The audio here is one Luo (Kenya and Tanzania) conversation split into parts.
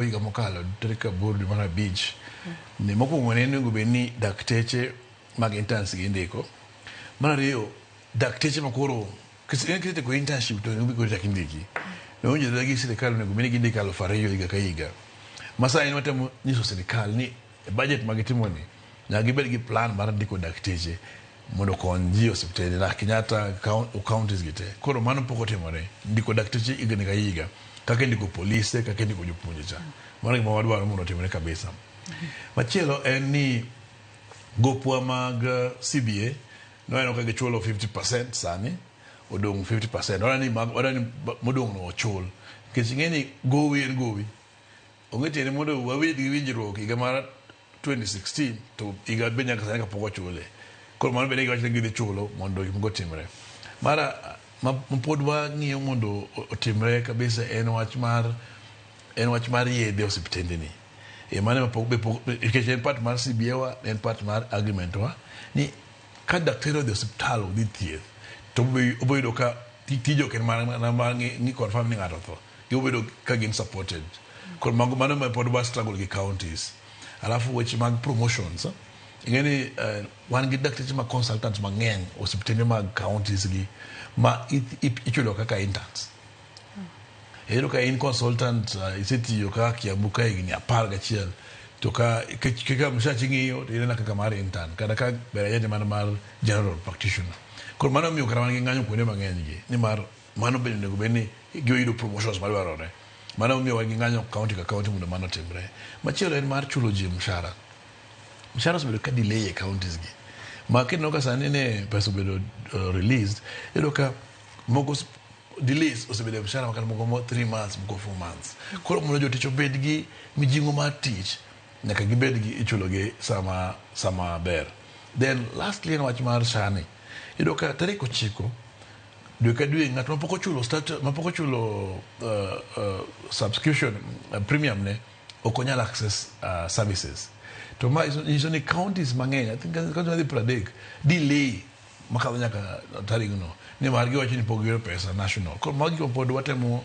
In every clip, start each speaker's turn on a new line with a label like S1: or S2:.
S1: Chieng' higa mokalo tarik aboro dwe mar abich ni mokwongo ne onego bed ni dakteche mag interns gi indiko. Mar ariyo dakteche ma koro kisetiko internship to onego koro chak indiki. Nowinjore gi sirikal onego bed ni gindiko aluf ariyo higa ka higa. Ma sani watemo nyiso sirikal ni E budget ma gitimoni, nyaka gibed gi plan mar ndiko dakteche mondo okony ji e osiptende na Kenyatta counties gi te. Koro mano pok otimore. Ndiko dakteche higni ka higa, kaka indiko polise, kaka indiko jopuonje cha. Mano gima wadwaro mondo otimre kabisa. Machielo en ni gopwa mag CBA nwaneno ka gichulo 50% sani, odong' 50%. Wadwani mag, wadwani modong' no ochul. Nikech ing'eni gowi en gowi. Onge tiende mondo wabed gi winjruok higa mar 2016 to higa be nyaka sani kapok ochule. Koro mano bende giwacho ni gidhi chulo mondo gik moko otimre. Mara ma ma pod wang'iyo mondo o- otimre kabisa en wach mar en wach mar yedhe osiptendeni. E mano ema pok be pok be- nikech en part mar CBA wa, en part mar agreement wa ni ka daktari odhi osiptal odhi thieth to obo- oboyudo ka ti- tije ok en mana mana mar ng'i ng'i confirm ni ng'ato otho. Gibobedo ka gin supported. Koro mago mano ma pod wa struggle gi counties. Alafu weche mag promotions. Eh? Ing'e ni uh, wan gi dakteche ma consultants mang'eny osiptende mag counties gi ma ichulo kaka interns. Iyudo ka in consultant uh, isetiyo ka Kiambu ka higni apar gachiel to ka kaka mshachi ng'iyo to inena kaka mar intern kata ka ber ajende mana mar general practitioner. Koro mano miyo kata wan gi ng'anyo kuonde mang'eny gi nimar Mano bende onego bed ni gioyudo promotions madwarore. Mano emomiyo wan gi ng'anyo county ka county mondo mano otimre. Machielo en mar chulo ji mshahara. Mshahara osebedo ka delay e counties gi. Ma kineno ka sani ni pesa obedo uh, released, iyudo ka moko s- delays osebedo e mshahara makata moko mo 3 months, moko 4 months. Koro mondo jotich obed gi mijing'o mar tich, nyaka gibed gi ichulogi sama sama ber. Then lastly en wach mar SHA ni. Iyudo ka tarik ochiko dwe ka dwe ng'at mapok ochulo stat- mapok ochulo uh, uh, subscription uh, premium ne ok onyal access uh, services to ma iso- nyiso ni counties mang'eny i think county madhi pradek delay makadho nyaka tarigno ni mar giwacho ni pok giyudo pesa national koro magi go pod watemo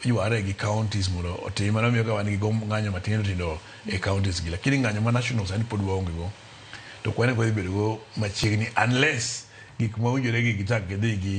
S1: yware gi counties mondo otim mano miyo ka wan gi go ng'anyo matindo tindo e counties gi lakini ng'anyo ma national sani pod waonge go to kwan ok wadhi bedo go machiegni unless gik mawinjore gi gichak gidhi gi